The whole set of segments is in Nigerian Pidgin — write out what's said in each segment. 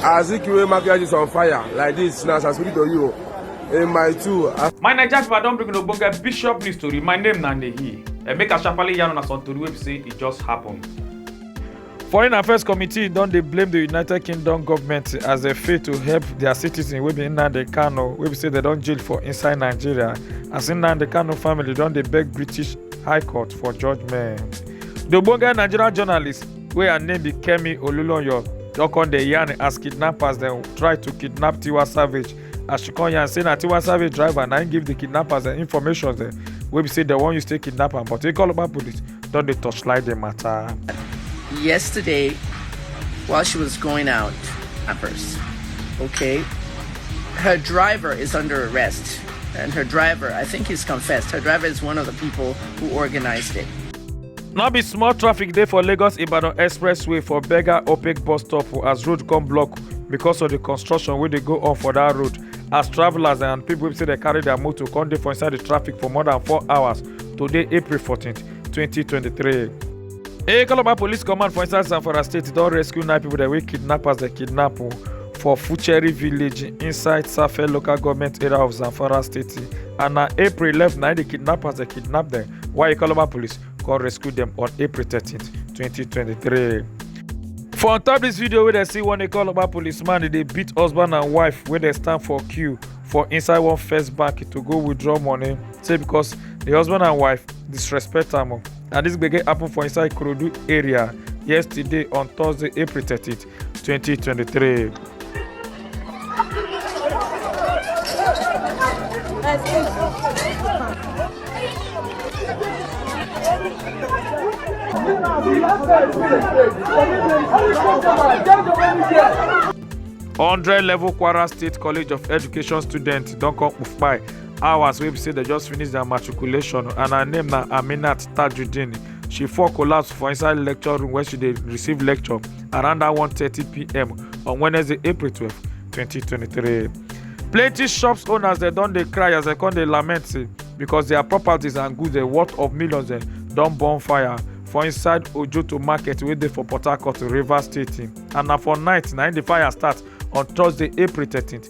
Azikiwe Makiaji is on fire like this now as I speak to you in my two. My Naija people don bring ogbonge bishop news tori. My name na Nehi. And make a sharply yarn on some tori wey be say e just happen. Foreign Affairs Committee don dey blame the United Kingdom government as dem fail to help their citizens wey be Nnamdi Kanu wey be say dem don jail for inside Nigeria as Nnamdi Kanu family don dey beg British High Court for judgement. The ogbonge Nigerian journalist wey her name be kemi olulonyo don come dey yarn as kidnappers dem try to kidnap tiwa savage as she come yarn say na tiwa savage driver na im give the kidnappers dem information dem wey be say dem wan use take kidnap am but ikoloba police don dey torchlight the matter. yesterday while she was going out at first okay her driver is under arrest and her driver i think he's confessed her driver is one of the people who organized it no be small traffic dey for lagos ibadan expressway for berger opec bus stop as road come block because of the construction wey dey go on for that road as travellers and people wey say dem carry their motor come dey for inside the traffic for more than four hours today april 14 2023. a calabar police command for inside zamfara state don rescue nine people dem wey kidnappers dem kidnap o for fucheri village inside safe local government area of zamfara state and na april 11 na the kidnappers dem kidnap dem Waikoloba police come rescue them on April 13, 2023. For on top this video where they see one Ikoloba policeman they beat husband and wife where they stand for queue for inside one first bank to go withdraw money say because the husband and wife disrespect am and this gbege happen for inside Kurudu area yesterday on Thursday April 13th 2023. hundred level kwara state college of education students don come kpai hours wey be say dem just finish their matriculation and her name na aminat tajudeen she fall collapse for inside lecture room where she dey receive lecture around that 1:30 p.m. on Wednesday, April 12, 2023. Plenty shops owners they don dey cry as they come dey lament say because their properties and goods dey worth of millions dem don burn fire for inside Ojoto market wey dey for Port Harcourt, Rivers State. And na for night na im the fire start on Thursday, April 13th.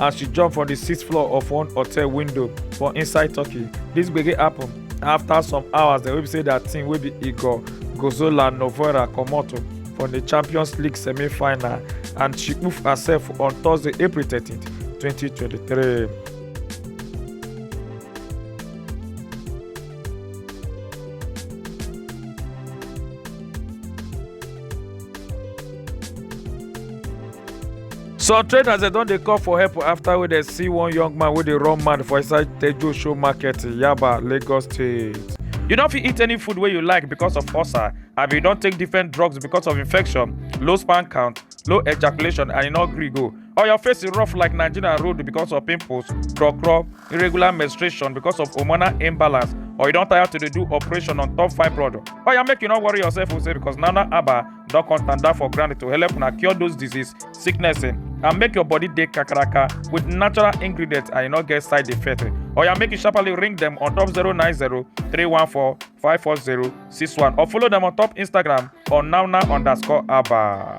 as she jump from di sixth floor of one hotel window for inside turkey dis gbege happen afta some hours dem wey be say dia team wey be igor gozola novora comot from di champions league semi-final and she poof herself on thursday april 13 2023. some traders dem don dey call for help after wey dem see one young man wey dey run mad for inside tejo show market yaba lagos state. you no fit eat any food wey you like because of ulcer abi you don take different drugs because of infection low sperm count low ejaculation and e no gree go or your face rough like nigerian road because of pimples kro kro irregular menstruation because of hormonal imbalance or you don tire to dey do operation on top fibroid oya make you no worry yourself o say because nana aba don come tanda for ground to help una cure those disease sickness eh, and make your body dey kakaraka with natural ingredients and e no get side effect eh. oya make you sharply ring dem on top 090 314 540 61 or follow dem on top instagram on nana underscore aba.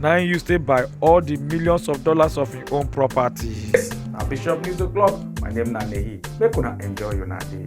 na im use take buy all di millions of dollars of im own properties. na bishop news o'clock my name na nehi make una enjoy una day.